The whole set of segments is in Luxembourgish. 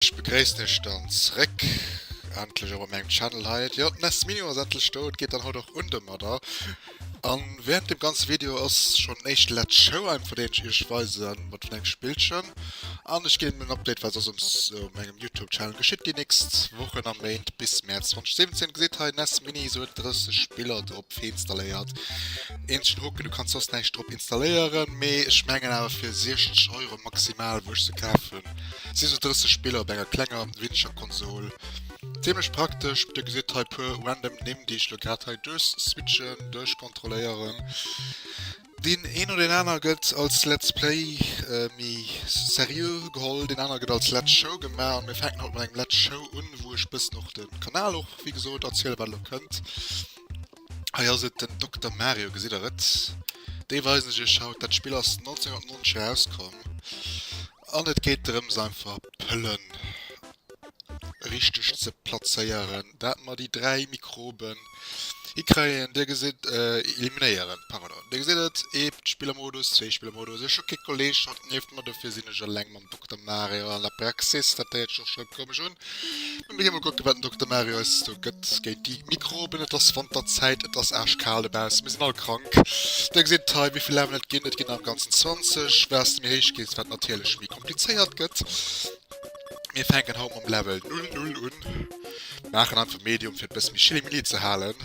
Ech begréissen iech dann zréck, endlech och op mengem Channel hei. Jo, d'Ness Mini ass endlech do, et geet dann haut och un domadder. A während dem ganze Video ass schonn en éischte Let's Show einfach, deen ech iech weise mat vun engem Spillchen. An ech ginn en Update, wat soss op mengem Youtube Channel geschitt déi nächst Wochen a Méint bis Mäerz 2017. Gesitt hei, Ness Mini, sou huet 30 Spiller drop installéiert. Eenzegen Hoken, du kanns soss näischt drop installéieren, mee ech mengen awer fir 60 Euro maximal, wou ech se kaf hunn, si sou 30 Spiller op enger klenger weeneger Konsol zimmlech praktesch. Dir gesitt hei puer random Nimm, déi ech elo grad hei duerchswitchen, duerchkontrolléieren. Deen een oder deen aner gëtt als Let's Play méi seriö geholl, deen aner gëtt als Let's Show gemaach a mir fänken haut mat engem Let's Show un, wou ech bëssen och de Kanal och wéi gesot erziele wat elo kënnt. Hei ass et den Dokter Mario, gesitt der et? Dee weisen ech iech haut. Dat Spill ass 1990 erauskomm an et geet drëms einfach Pëllen richteg ze plazéieren, dat mer déi dräi Mikroben hikréien. Dir gesitt, eliminéieren, pardon. Dir gesitt et, ee Spillermodus, zwee Spillermodus, ech hu kee Kolleeg haut nieft mer, dofir sinn ech eleng. den Dokter Mario an der Praxis. Dat héiert sech och schrëpp komesch un. Mä mir gi mol kucken, wat den Dokter Mario eis esou gëtt géint déi Mikroben. Et ass Wanterzäit, et ass aarschkal dobaussen, mir sinn all krank. Dir gesitt hei, wéi vill Laven et ginn. Et ginn der am Ganzen 20, wat s de méi héich gees, wat natierlech méi komplizéiert gëtt. Mir fänken haut mam Level Null Null un, maachen einfach Medium, fir et e bësse méi chillimilli ze halen.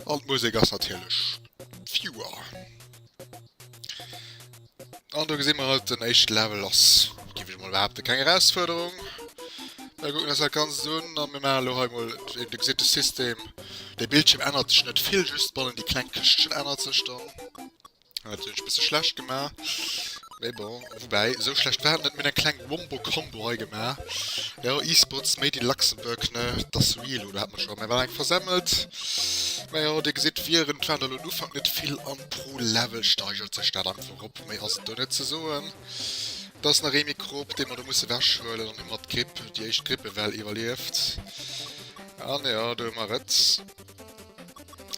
An d'Musek ass natierlech Viewer. An do gesinn mer halt den éischte Level ass, géif ech mol behaapten, keng Erausfuerderung. Mir kucken eis dat Ganzt un a mir maachen elo hei mol, wéi dir gesitt, de System. De Bildschierm ännert sech net vill, just bannen déi kleng Këschtchen ännert sech dann. Hat sech e bësse schlecht gemaach. Mais bon, woubäi, sou schlecht war et net. Mir hunn eng kleng Wombo Combo hei gemaach. Jo, eSports made in Luxembourg, ne, dass real, oder? Hat mer scho, mä war eng versemmelt. Mä jo, Dir gesitt, Viren, et waren der elo en Ufank net vill, an pro Level steigert sech dat einfach erop. Méi ass et do net ze soen. Do ass nach ee Mikrob, dee mer do musse wechhuelen, an hu mer d'Gripp, déi éischt Grippewell iwwerlieft. An jo, do hu mer et.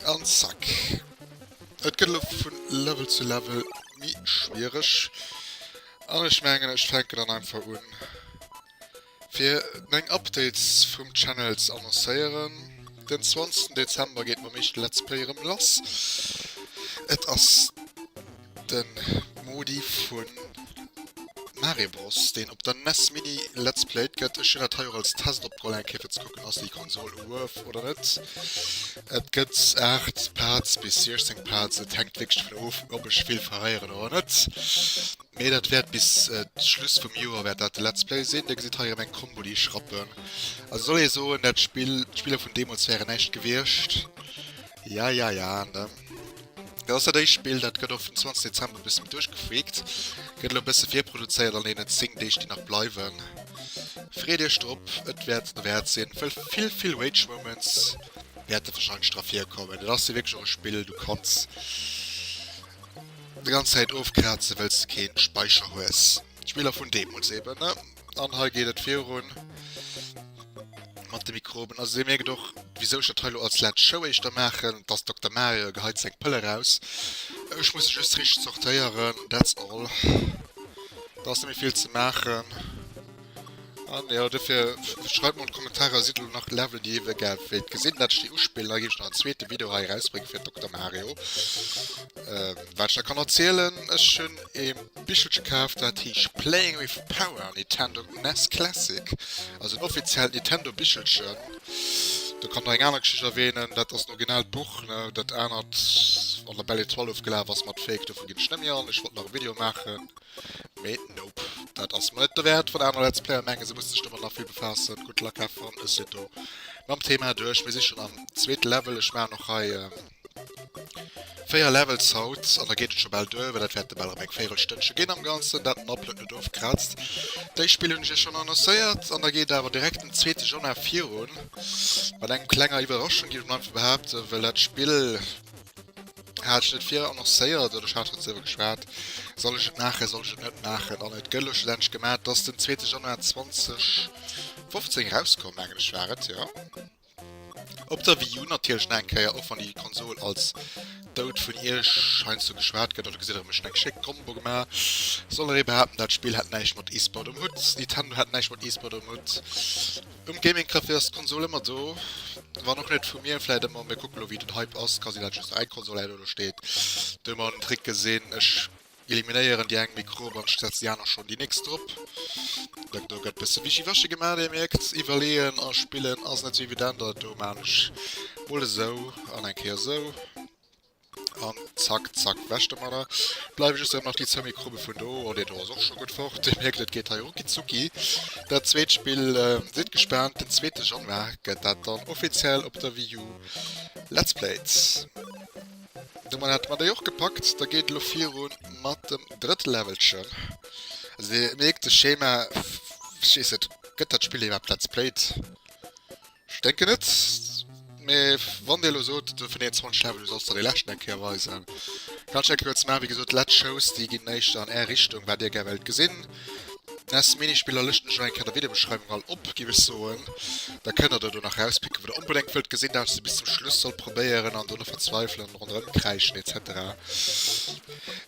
An zack. Et gëtt elo vu Level zu Level mi schwiereg an ech mengen ech fänken dann einfach un fir meng Updates vum Channel ze annoncéieren. Den 20 Dezember geet mam meeschte Let's Play erëm lass. Et ass de Modi vu Mario Bros deen op der nes Mini Let's Played gëtt. Ech hunn dat hei och als Test opgeholl eng Kéier fir ze kucken ass déi Konsol Worth oder net. Et gëtt 8 Pads bis 16 Pads, et hänkt wierklech dovun of, ob ech vill verréieren oder net. Mee dat wäert bis äh, Schluss vum Joer wäert dat de Let's Play sinn. Dir gesitt hei erëm eng Combo, déi ech rappen. Also soll ee soen, dat Spill, d'Spiller vun deemools wären näischt gewiescht. Ja, ja, ja, ne? Dat ass dat éischt Spill, dat gëtt och vum 20. Dezember e bësse méi duerchgefreakt. Gëtt elo e bësse virproduzéiert an deenen 10 Deeg, déi nach bleiwen. Freet Iech drop, et wäert et derwäert sinn. Vill, vill, vill Rage Moments. wäert et wahrscheinlech dra virkommen. Et ass jo wierklech och e Spill, du kanns déi ganz Zäit ofkrazen, well s de kee Speicher hues. Spiller vun deemools eben, ne? An hei geet et virun mat de Mikroben. Also Dir mierkt och, wisou ech dat hei elo als Let's Show éischter maachen, dass Dokter Mario geheit seng Pëll eraus. Ech muss se just richteg sortéieren, that's all. Do ass net méi vill ze maachen. An ja, dofir schreibt mol Kommentarer si du nach Level déi iewe gär wéilt gesinn, wat ech déi uspillen, da gi ech nach en zweete Video hei rausbrénge fir Dokter Mario. Ähm, wat ech da kann erzielen, ech hunn e Bichelche kaf, dat heescht Playing with Power Nintendo NES Classic, also en offiziellt Nintendo Bichelchen. Da kann nach eng aner Geschicht erwähnen, dat ass d'originalt Buch, ne, dat anert an der Belle Etoile ofgelaf ass mat Fake, dofir ginn ech net méi an, ech wollt nach e Video maachen. Mee nope, dat ass mer net dowäert. Wann aner Let's Player mengen, se musse sech domat nach vill befaassen, good luck, have fun. Ech sinn do mam Thema duerch. Mir si schonn am zweete Level. Ech maachen och hei véier Levels haut an da geet et scho bal duer, well dat wäerte bal erëm eng Véierelstënnche ginn am Ganzen, dat den Upload net ofkraazt. Déi Spill hunn ech iech schonn annoncéiert an da geet awer direkt den zweete Januar virun mat engem klenger Iwwerraschung, géif ech mol einfach behaapten, well dat Spill, Hat ech net vir annoncéiert oder ech hat dozou ewer geschwat, soll ech et maachen, soll ech et net maachen? An et gëtt elo schlussendlech gemat, dass den zweete Januar 2015 erauskomm, mengen ech, war et, jo. Op der Wii U natierlech nach eng Kéier, och wann déi Konsol als dout vun Iech heiansdo geschwat gëtt, oder gesitt Der, ech hu mech schonn eng schéck Combo gemaach, soll Der ee behaapten, dat Spill hätt näischt mat E-Sport um Hutt, Nintendo hätt näischt mat E-Sport um Hutt? Um Gaming Café ass d'Konsol ëmmer do, wann och net vu mir vläit ëmmer. Mir kucke lo wéi den Hype ass, ka sinn dat just eng Konsol hei oder do steet. Do hu mer en Trick gesinn, ech eliminéieren déi eng Mikro op an ech setze déi aner schonn déi nächst drop. Datt do gëtt bësse wischiwaschi gemaach, Dir mierkt, iwwerleeën a spillen ass net sou evident. Datt do maachen ech mol esou an eng Kéier esou. An zack, zack, weg domadder. Et bleiwen just erëm nach déi zwou Mikrobe vun do. Oh, deen do ass och scho gutt fort. Dir mierkt, et geet hei rucki zucki. Dat zweet Spill, sidd gespaant, den zweete Januar gëtt dat dann offiziell op der Wii U Let's Played. Domat hate mer déi och gepackt. Da geet et elo virun mat dem drëtte Levelchen. Also Dir mierkt de Schema, ech weess net, gëtt dat Spill iwwerhaapt Let's Played? Ech denken net, mee wann dir elo sot do vun deenen 20 Levelen, du solls der dee leschten eng Kéier weisen, kann ech eng Kéier eppes maachen. Wéi gesot, d'letzt Shows, déi ginn éischter an är Richtung, wat dir gär wéilt gesinn. Ness Minispiller lëschten ech och eng Kéier an der Videobeschreiwung all op, géif ech soen. Da kënnt der do do nach erauspicken, wat der onbedéngt wëllt gesinn, dat wat ech bis zum Schluss soll probéieren an do net verzweifelen an ronderëm kräischen etc.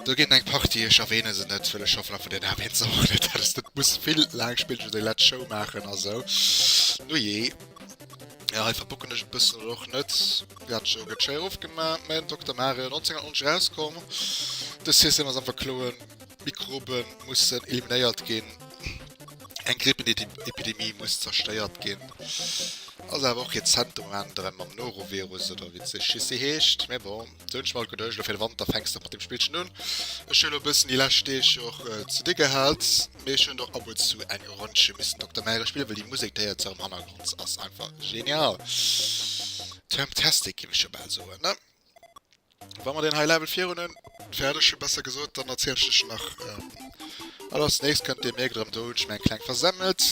Do ginn eng Partie, ech erwähne se net, well ech schaffen einfach den Aab Eenzer och net, dat ass, dat muss vill laang spillen, ewéi déi letzt Show maachen a sou. Nujee. Jo, hei verbocken ech e bëssen oder och net. Ja, d'Show gëtt schei ofgemaach, mä den Dokter Mario 1990 erauskomm. De System ass am Verkloen, Mikrobe mussen eliminéiert ginn, eng Grippeepidemie muss zerstéiert ginn. Ass awer och rezent de Moment erëm mam Norovirus, oder wéi d'Geschiss si heescht, mä bon. Sou ech mol geduecht elo fir de Wanter fängst de mat dem Spillchen un. Ech hunn elo e bëssen déi lescht Deeg och ze di gehat, mee ech hunn och ab und zu eng Ronndche missen Dokter Märe spillen, well déi Musek déi hei erzou am Hannergrond ass einfach genial. Termtastic géif ech jo bal soen, ne? Wa mer deen hei Level virun hunn, fäerdeg hunn besser gesot, dann erziele ech lech elo nach alles Nächst. Kënnt Dir mierkt erëm, do hunn ech meng kleng versemmelt,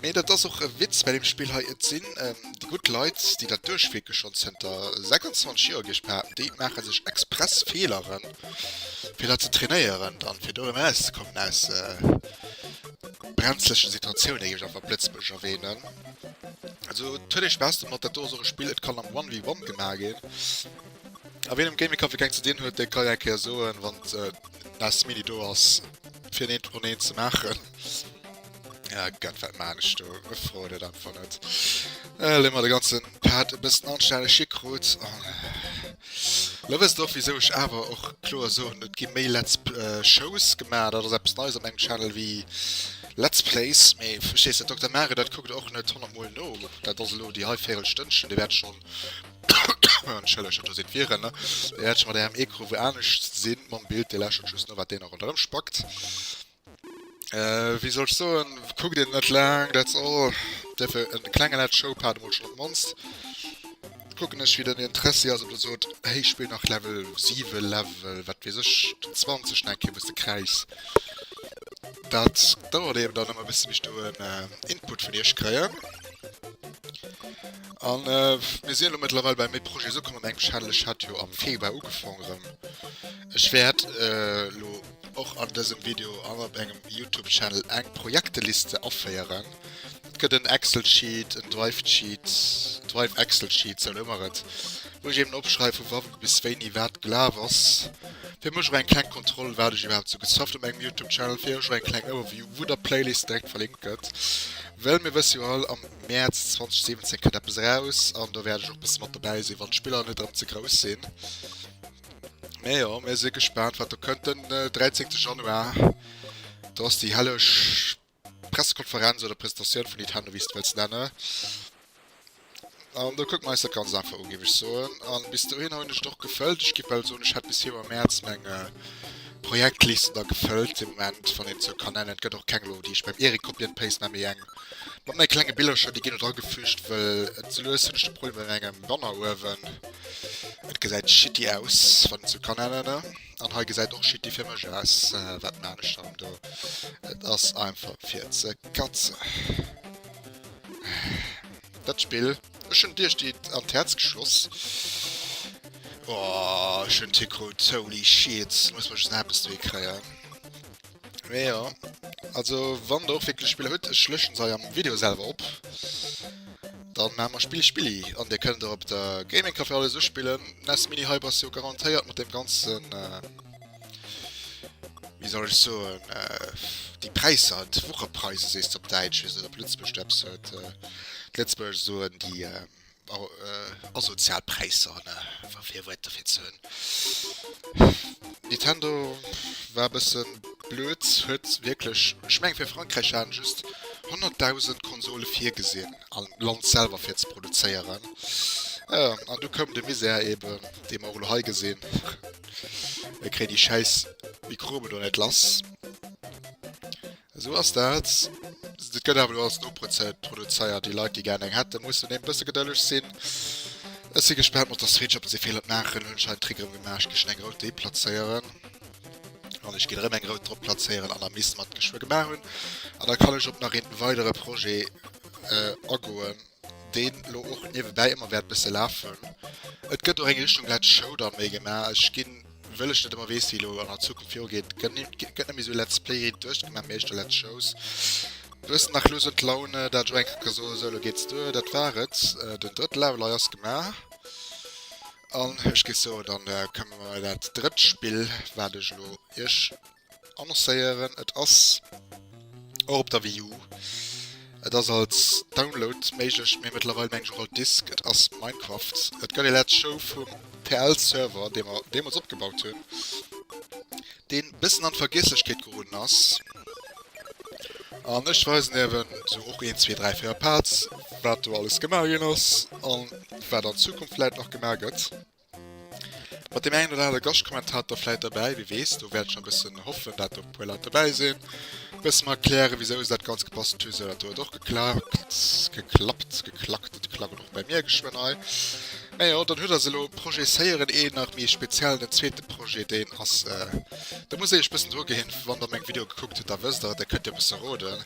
mee dat ass och e Witz bei deem Spill hei. Et sinn Déi gutt Leit, déi dat duerchwierke schonn zënter 26 Joer, géif ech behaapten, déi maache sech express Feeleren, fir dat ze trainéieren, dann fir do erauszekommen aus brenzleche Situatiounen, géif ech einfach Lëtzebuergesch erwähnen. Also huet ee Spaass domat, dat do ass och e Spill, et kann am One vs One gemaach ginn. A wien am Gaming Café keng ze dinn huet, dee ka jo eng Kéier soen, wann d'Last Minute do ass, fir en Eent un Eent ze maachen. Ja, Gott, wat man ech do? E freut et einfach net. Äh, lemmer de ganzen Pad e bëssen anstäneg hikrut. An, äh, lo wësst och, wieso ech awer och kloer soen, et gi méi Let's P- äh, Shows gemaach. Dat ass eppes Neies op mengem Channel wéi Let's Plays. Mee verstees de, Dokter Mario, dat kuckt och net honnert Mol no. Dat ass elo déi hei Véirelstënnchen, déi wäert ech schonn, entschëllegt, do sinn d'Viren, ne, déi wäert ech mat engem Ecrou wou anescht sinn, mam Bild, dee lächelt just no, wat deen nach ronderëm spackt. Wéi soll ech soen, kuckt een net laang, that's all. Dierf e klenge late Showpad emol schonn op d'mannst. Kucken ech, wéi den Interessi ass, ob de sot, Hey, spillt nach Level 7, Level wat weess ech, den 20 nach eng Kéier, bis de kräiss. Dat dauert eben dann ëmmer e bësse bis ech do en Input vun iech kréien. A mir sinn elo mëttlerweil bei méi Projets ukomm. Mat engem Channel, ech hat jo am Februar ugefaangen erëm. Ech wäert elo. Och an dësem Video an op engem Youtube-Channel eng Projekteliste aféieren. Et gëtt en Excel-Sheet, en Drive-Sheet, Drive Excel-Sheet, sou nomme mer et, wou ech eben opschreiw vu wa bis wéini wat gelaf ass. Fir mech och eng kleng Kontroll, wat ech iwwerhaapt sou gesufft op engem Youtube-Channel, fir och eng kleng Overview, wou der Playlist direkt verlinkt gëtt. Well mir wësse jo all, am Mäerz 2017 kënnt eppes eraus an do wäert ech och e bësse mat dobäi sinn, wann d'Spiller net erëm ze grouss sinn. Mee jo, mir si gespaant, wat do kënnt den 13. Januar. Do ass déi helleg Pressekonferenz oder Presentatioun vun Nintendo, wéi s de wëlls nenne. An do kucke mer eis dat ganz einfach u, géif ech soen. A bis dohinner hunn ech et och gefëllt. Ech géif bal soen, ech hätt bis Februar, Mäerz meng äh, Projektliste da gefëllt de Moment, wann een et sou kann nennen. Et gëtt och keng elo, déi ech beim Erik Copy and Paste nach méi eng Mat menge klenge Billercher, déi ginn do dragefüügt, wëll et sou lues hunn ech de Problem mat mengem Wanneruewen, et gesäit shitty aus, wann et sou kann ännere. An hei gesäit och shitty fir mech aus. Wat man ech dann do? Et ass einfach fir ze katzen. Dat Spill, ech hunn Dir déi an d'Häerz geschloss. Oh, ech hunn d'Hickroots, holy shit, muss mer just nach eppes dohi kréien. Ja, also wann der och wirklich Spieler huet, ech löschen se am Video selber op. Dann machen wir Spiel Spilli an der könnt ihr op der Gaming Café alles spielen. Nes Mini Hyper ist jo garantiert mit dem ganzen äh, wie soll ich so äh, die Preise halt Wochepreise se op Deitsch wie se op Lützburg Steps huet äh, Lützburg so die äh, Asozial Präisser ne fir Virwërter fir ze hunn. Nintendo war e bësse blöd, huet wierklech, ech mengen fir Frankräich hat en just 100.000 Konsole virgesinn am Land selwer fir ze produzéieren. Jo, an du koum de Misär eben, dee mer och elo hei gesinn. E kréit déi schäiss Mikroben do net lass. Esou ass dat. Et gëtt awer elo alles noprozed produzéiert. Déi Leit, déi gären eng hätten, mussen eben e bësse gedëlleg sinn. Ech si gespaant mat der Switch, ob se Feeler d'maachen. Hunn ech hei en Trick erëm gemaach, ech géif schonn eng rout dee plazéieren. An ech ginn erëm eng rout drop plazéieren an der Miss, mat geschwë gemaach hunn. An da kann ech op nach een weidere Projet agoen. deen elo och niewebäi ëmmer wäert bësse lafen. Et gëtt och eng Richtung Let's Show dann méi gemaach. Ech ginn, wëll ech net ëmmer weess, wéi elo an der Zukunft virugeet, gëtt ni gëtt net méi esou Let's Play riit duerchgemaach, mee éischter Let's Shows. Du hues nach elo esou d'Laune, dat elo eng Kéier ka soen, esou elo geet se duer. Dat war et. Den Drëttel awer lei ass gemaach. An ech géif soen, dann kënne mer dat drëtt Spill, wat ech elo iech annoncéieren. Et ass och op der Wii U. Et ass als Download méiglech, mee mëttlerweil meng ech och als Disk. Et ass Minecraft. Et gëtt ee Let's Show vum PL-Server, dee mer deemools opgebaut hunn, dee bëssen an d'Vergiesslechkeet geroden ass. An ech weisen iewen esou och een, zwee, dräi, véier Parts, wat do alles gemaach ginn ass a wat an Zukunft vläit nach gemaach gëtt. Mat dem engen oder anere Gastkommentator vläit derbäi, wie weess. Do wäert ech nach e bëssen hoffen, dat do e puer Leit derbäi sinn. E bësse mer erklären, wisou se dat Ganzt gebastelt hunn, esou dat do huet och geklakt, geklappt, geklackt. Et klackelt och bei mir geschwënn hei. Mä jo, dann hutt der se elo. Projezéieren een nach méi speziell den zweete Projet, deen ass, do muss ee lech e bëssen dru ginn, wann der meng Videoe gekuckt hutt, da wësst der et, da kënnt der e bësse roden.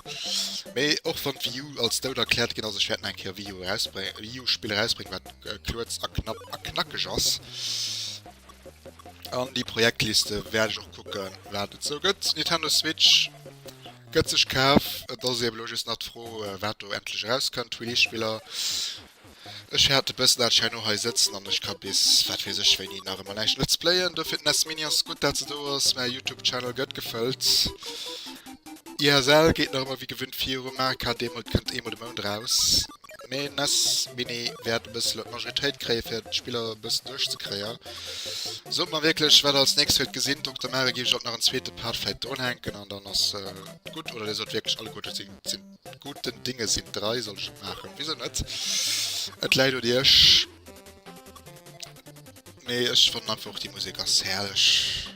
Mee och wann d'Wii U als dout erkläert ginn ass, ech wäert nach eng Kéier Wii U erausbréngen, Wii U-Spill erausbréngen, wat Kuerz a knapp a knackeg ass. An déi Projektliste wäert ech och kucke wat et sou gëtt. Nintendo Switch gëtt sech kaf. Et ass eben elo just nach d'Fro wat do endlech erauskënnt. Release Spiller, ech häert de bëssen dat ech hei no hei sëtzen an ech ka bis wat weess ech wéini nach ëmmer näischt Let's Playen. Dofir den SNES Mini ass gutt dat se do ass. Mäi Youtube Channel gëtt gefëllt. ISL geet nach ëmmer wéi gewinnt viru. Mario Kart Demo kënnt eemol de Mount raus. Mee nes Mini wäert e bëssel op Majoritéit kréie fir d'Spiller e bëssen duerch ze kréien. Sot mer wierklech wat als nächst huet gesinn, Dokter Mare gi ech op nach en zweete Part fäit dronhänken an dann ass äh, gutt oder Dir sot wierklech alle gute sinn, sinn guten Dinge sinn 3 soll ech et maachen? Wisou net? Et läit un Iech. Mee ech fannen einfach och déi Musek ass herrlech.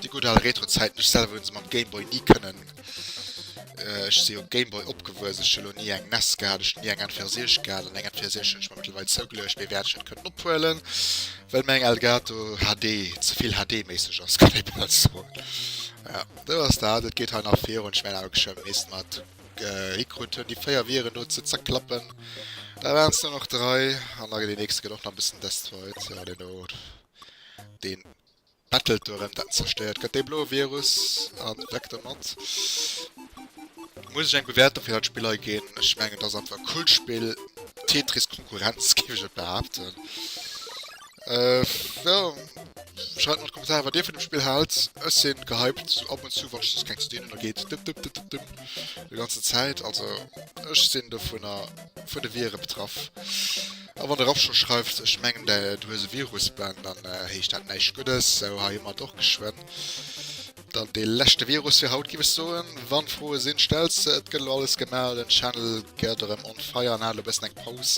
Déi gutt al Retro-Zäiten, ech selwer hunn se mam Game Boy ni kënnen. Ech si um Game Boy opgewuess, ech hunn elo ni eng nes gehat, ech hunn ni eng N64 gehat an eng N64 hunn ech mer mëttlerweil zougeluecht, mee wäert ech net kënnen ophuelen, well meng Elgato HD ze vill HD-méisseg ass, kann ee bal soen. Jo, dat ass dat, et geet hei nach virun, ech mengen awer geschwë misst mat. Gekrut hunn déi 4 Viren do ze zerklappen. Da waren es nur nach 3 an da gëtt deen nächste gëtt och nach e bëssen destroyed. Jo deen do deen battelt do erëm dat zerstéiert gëtt dee bloe Virus an weg domat. Muss ech eng Bewäertung fir dat Spill hei ginn? Ech mengen et ass einfach e coolt Spill, Tetris Konkurrenz géif ech et behaapten. Äh, ja, schreibt mal Kommentare, wat dir vun dem Spiel haalt. Ech sinn gehypt, ab und zu, wann ech just keng Steen oder geht. Dip, dip, dip, dip, dip. Die ganze Zeit, also, ech sinn davon, vun de Viren betraff. A wann de Raff schon schreift, ech mengen, du hues e Virus, Ben, dann äh, heescht dat näischt Guddes, so, hei hun mer et och geschwënn. Dann dee leschte Virus fir haut giff ech soen. Wann Froe sinn, stell se. Et gëtt elo alles gemaach, den Channel gett erëm on fire an hat elo e bëssen eng Paus.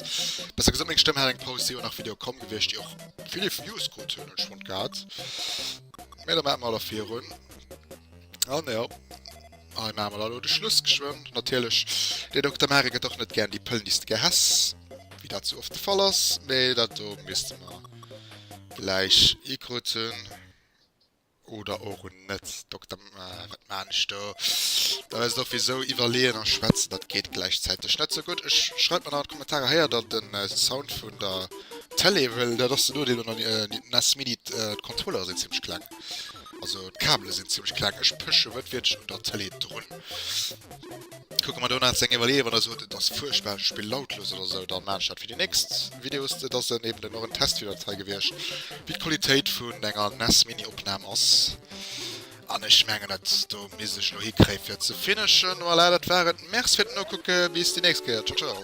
Besser gesot meng Stëmm hat eng Paus, si jo nach Video komm gewiescht déi och vill Views krut hunn, hunn ech fonnt gehat. Mee da maache mer elo virun. An jo, hei maache mer da elo de Schluss geschwënn. Natierlech, dee Dokter Mare gëtt och net gären déi Pëll Nist gehäss, wéi dat sou oft de Fall ass. Mee dat do misste mer gläich ikruten. Oder och un net Dokter wat maan ech do? Da wärst och wisou iwwerleeën a schwätzen, dat geet gläichzäiteg net sou gutt. Ech schreift mer nach an d'Kommentarer, héiert der den Sound vun der Tele? Well dat ass den Noodeel un der nes Mini, d'Controlleure sinn zimmlech kleng, also d'Kabele sinn zimmlech kleng. Ech pësche wëttwiertlech un der Tele drun. Kucke mer do nach seng Iwwerleeë, wann e sot, et ass fuerchtbar, ech spill lautlos oder esou, dann maachen ech dat fir déi nächst Videos. Dat ass dann eben dann och en Test fir d'Datei gewiescht, wéi d'Qualitéit vun enger nes Mini Opnam ass. An ech mengen, dat do misst ech elo hikréien, fir ze finishen. Voilà, dat war et. Merci fir d'Nokucke, bis déi nächst Kéier. Ciao, ciao.